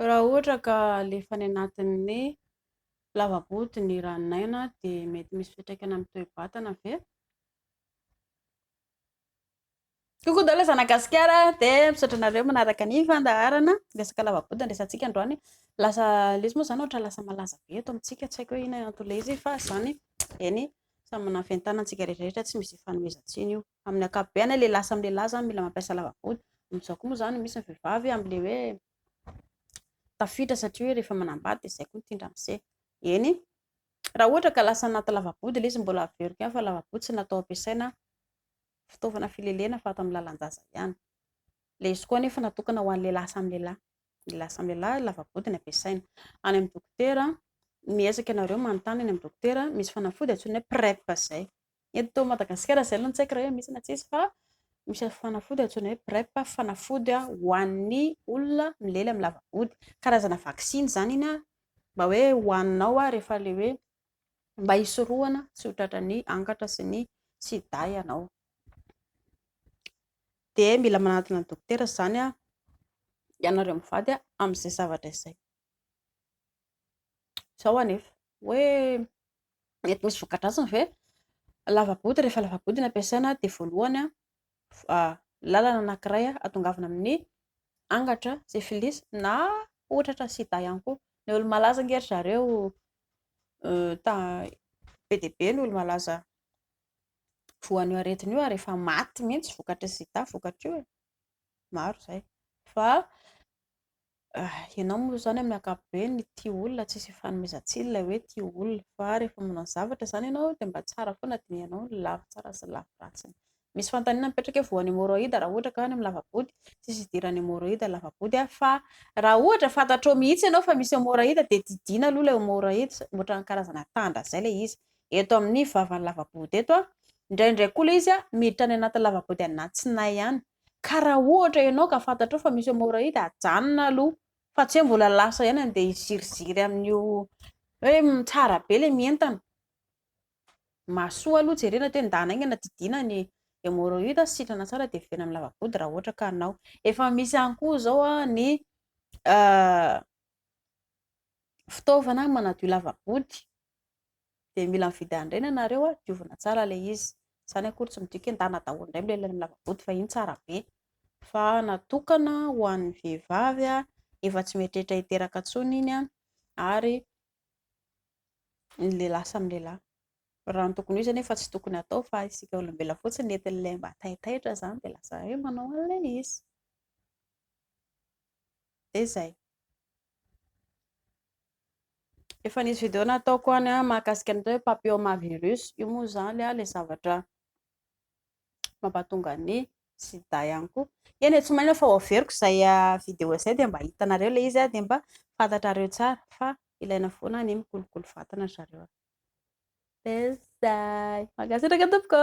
Raha ohatra ka alefa any anatin'ny lava-boty ny ranon'aina dia mety misy fiantraikany amin'ny toe-batana ve? Coucou daholo zanaka gasikara dia misaotra anareo manaraka ny fandaharana resaka lava-boty andresantsika androany lasa ilay izy moa izany ohatra lasa malaza be eto amintsika tsy haiko hoe inona antony ilay izy fa izany eny samy manana ny fientanantsika rehetra rehetra tsy misy ifanomezan-tsiny io amin'ny ankapobeany hoe lehilahy samy lehilahy zany mila mampiasa lava-vody, amin'izao koa moa zany misy ny vehivavy amin'ilay hoe tafiditra satria hoe rehefa manambady dia izay koa ny tindra miseho, eny raha ohatra ka lasa anaty lava-body ilay izy mbola averiko ihany fa lava-body tsy natao hampiasaina fitaovana filelena fa ato amin'ny lalan-jaza ihany, ilay izy koa anefa natokana ho an'ny lehilahy samy lehilahy, ny lehilahy samy lehilahy lava-body no ampiasaina, any amin'ny dokotera miezaka ianareo manontany any amin'ny dokotera misy fanafody antsoina hoe prep izay. Eto Madagasikara izay aloha no tsy haiko raha hoe misy na tsisy fa misy fanafody antsoina hoe PrEP, fanafody ho an'ny olona milely amin'ny lava-body. Karazana vaksiny izany iny mba hoe hohaninao rehefa ilay hoe mba hisorohana tsy ho tratran'ny angatra sy ny sida ianao. Dia mila manatona ny dokotera izany ianareo mivady amin'izay zavatra izay. Izao anefa hoe Mety misy voka-dratsiny ve? Lava-body, rehefa lava-body no ampiasaina dia voalohany lalana anankiray ahatongavana amin'ny angatra syphilis na ohatra ohatra sida ihany koa. Ny olo-malaza ange ry zareo be dia be ny olo-malaza voan'io aretina io ary efa maty mihitsy vokatry ny sida vokatry io e! maro izay fa Ianao moa izany amin'ny ankapobeny ny tia olona tsisy ifanomezan-tsiny ilay hoe tia olona fa rehefa manao zavatra izany ianao dia mba tsara foana dinihanao ny lafy tsara sy ny lafy ratsiny. Misy fanontaniana mipetraka hoe voan'ny hemoroida raha ohatra ka any amin'ny lava-body? Tsisy idiran'ny hemoroida ny lava-body fa raha ohatra fantatrao mihitsy ianao fa misy hemoroida dia didiana aloha ilay hemoroida ohatran'ny karazana tandra izay ilay izy eto amin'ny vavan'ny lava-body eto. Indraindray koa ilay izy miditra any anatin'ny lava-body any anatsinay any. Ka raha ohatra ianao ka fantatrao fa misy hemorroïde ajanona aloha fa tsy hoe mbola lasa ihany andeha hiziriziry amin'io hoe tsara be ilay mientana. Mahasoa aloha jerena hoe ndana aingana didiana ny hemorroïde sy sitrana tsara dia velona amin'ny lava-body raha ohatra ka anao. Efa misy ihany koa izao ny fitaovana manadio lava-body dia mila mividy an'ireny ianareo a, diovina tsara ilay izy, izany akory tsy midika hoe endana daholo indray milay amin'ny lava-boto fa iny tsara be, fa natokana ho an'ny vehivavy efa tsy mieritreritra hiteraka intsony iny ary ny lehilahy samy lehilahy, raha ny tokony ho izy anefa tsy tokony hatao fa isika olombelona fotsiny no entin'ilay mba taitaitra izany dia lasa hoe manao an'ilay izy, dia izay. Efa nisy video nataoko any a mahakasika ny atao hoe papillomavirus. Io moa izany a ilay zavatra mampatonga ny sida ihany koa. Eny e, tsy manino fa hoaveriko izay video izay dia mba hitanareo ilay izy a dia mba fantatrareo tsara fa ilaina foana ny mikolokolo vatana ry zareo a. Dia izay. Mankasitraka tompoko.